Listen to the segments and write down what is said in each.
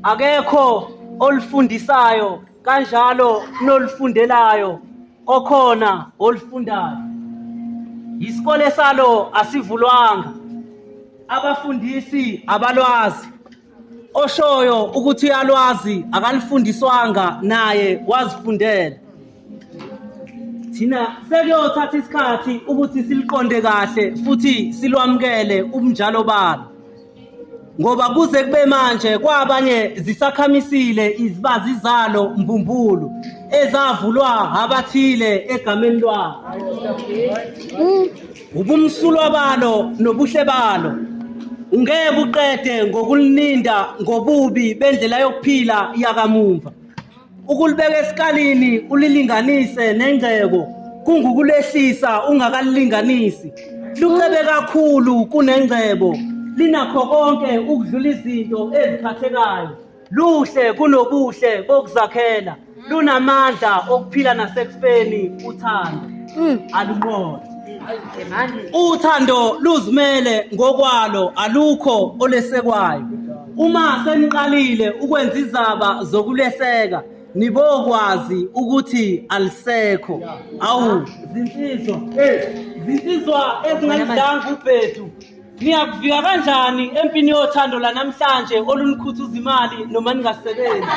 akekho olufundisayo kanjalo nolufundelayo okhona olufundayo isikole salo asivulwanga abafundisi abalwazi oshoyo ukuthi uyalwazi akalifundiswanga naye wazifundela thina sekuyothatha isikhathi ukuthi siliqonde kahle futhi silwamukele ubunjalo balo ngoba kuze kube manje kwabanye zisakhamisile izibazi zalo mbumbulu ezavulwa abathile egameni lwabo ubumsulwa balo nobuhle balo ungeke uqede ngokulininda ngobubi bendlela yokuphila yakamumva Ukulibeka esikalini ulilinganise nengcebo kungukulehlisa ungakalilinganisi. Lucebe kakhulu kunengcebo, linakho konke ukudlula izinto eziphathekayo. Luhle kunobuhle bokuzakhela, lunamandla okuphila nasekufeni uthando. Mm. Alunqobe. Uthando luzimele ngokwalo alukho olesekwayo. Uma seniqalile ukwenza izaba zokuleseka nibokwazi ukuthi alisekho awu zinsizwa zinsizwa ezingalidanga ubhedu niyakuvika kanjani empini yothando lanamhlanje olunikhuthuza imali noma ningasebenzi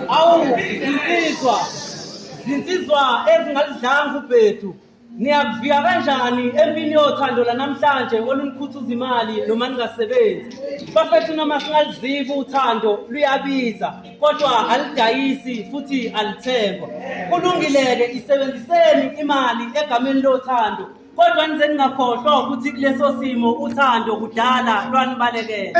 awu zinsizwa zinsizwa ezingalidlanga ubhedu niyakuvika kanjani empini yothando lanamhlanje olunikhuthuza imali noma ningasebenzi bafethu noma singalizibi uthando luyabiza kodwa alidayisi futhi alithengwa kulungile-ke isebenziseni imali egameni lothando kodwa nize ningakhohlwa ukuthi kuleso simo uthando kudala lwanibalekele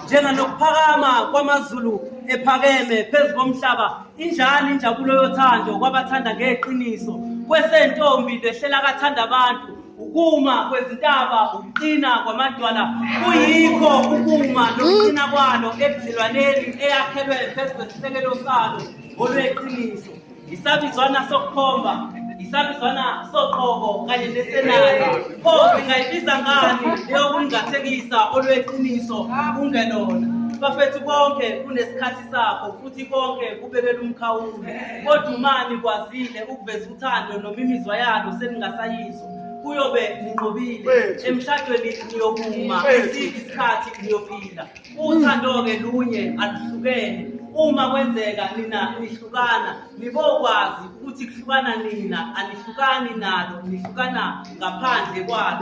njenganokuphakama kwamazulu ephakeme phezu komhlaba injalo injabulo yothando kwabathanda ngeqiniso kwesentombi lehlela kathanda abantu ukuma kwezintaba ukuqina kwamadwala kuyikho ukuma nokuqina kwalo ebudlelwaneni eyakhelwe phezu kwesisekelo salo olweqiniso isabizwana sokukhomba isabizwana soqobo kanye nesenali pho singayibiza ngani leyokungathekisa olweqiniso kungelona bafethu konke kunesikhathi sakho futhi konke kubekela umkhawulo kodwa umani kwazile ukuveza uthando noma imizwa yalo seningasayizwa kuyobe ninqobile emshadweni niyokuma esithi isikhathi niyophila Uthando-ke lunye aluhlukene uma kwenzeka nina nihlukana nibokwazi ukuthi kuhlukana nina anihlukani nalo nihlukana ngaphandle kwalo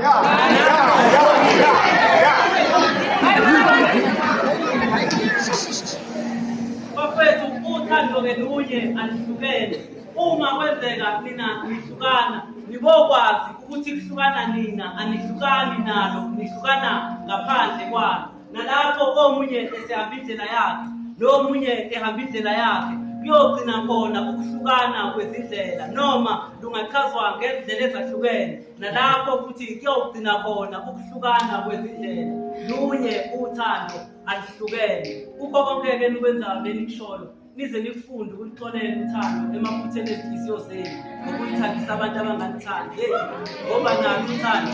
bafethu uthando-ke lunye aluhlukene Uma kwenzeka nina nihlukana nibokwazi ukuthi kuhlukana nina anihlukani nalo nihlukana ngaphandle kwalo nalapho omunye esehamba indlela yakhe lo munye ehamba indlela yakhe kuyogcina khona ukuhlukana kwezindlela noma lungachazwa ngezindlela ezahlukene nalapho futhi kuyogcina khona ukuhlukana kwezindlela lunye uthando alihlukene kukho konke-ke nikwenzayo lenikushoyo nize nifunde ukulixolela uthando emaphutheni ezinhliziyo zenu ngokuyithandisa abantu abanganithandi yeyi ngoba nalo uthando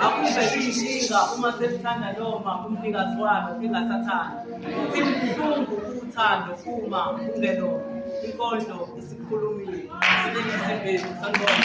akube liyinkinga uma selithanda noma umnikazi walo engasathandi futhi buhlungu uthando uma ungelona inkondlo isikhulumile sinengisibhezi sanibona